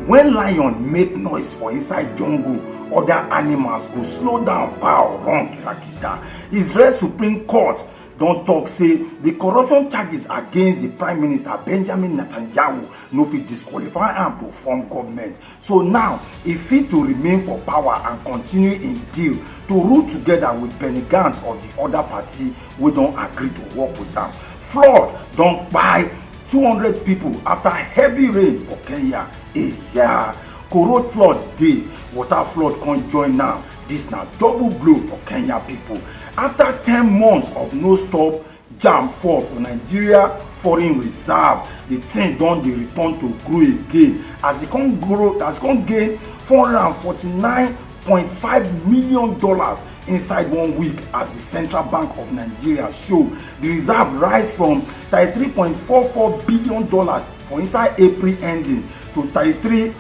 When lion make noise for inside jungle, other animals go slow down, pow, run kirakita. Israel Supreme Court don talk say the corruption charges against the prime minister benjamin netanyahu no fit disqualify am to form government So now, e fit to remain for power and continue im deal to rule together with Benny Gantz or di oda party wey don agree to work with am. Flood don kpai hundred pipo afta heavy rain for Kenya. Eya! Koro flood dey, water flood come join am. Dis na double blow for Kenya pipo. Afta ten months of no stop, jam fall for nigeria foreign reserve the thing don dey return to grow again as e come grow as e come gain four hundred and forty-nine point five million dollars inside one week as the central bank of nigeria show the reserve rise from thirty-three point four four billion dollars for inside april ending to thirty-three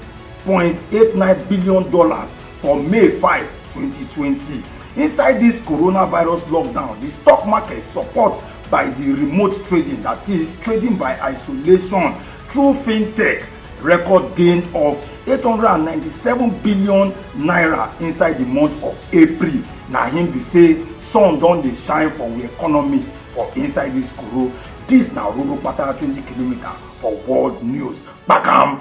point eight nine billion dollars for may 5 2020 inside dis coronavirus lockdown di stock market support by di remote trading that is trading by isolation through fintech record gain of 897 billion naira inside di month of april na him be say sun don dey shine for we economy for inside dis koro dis na roro pata 20 kilometre for world news kpakam.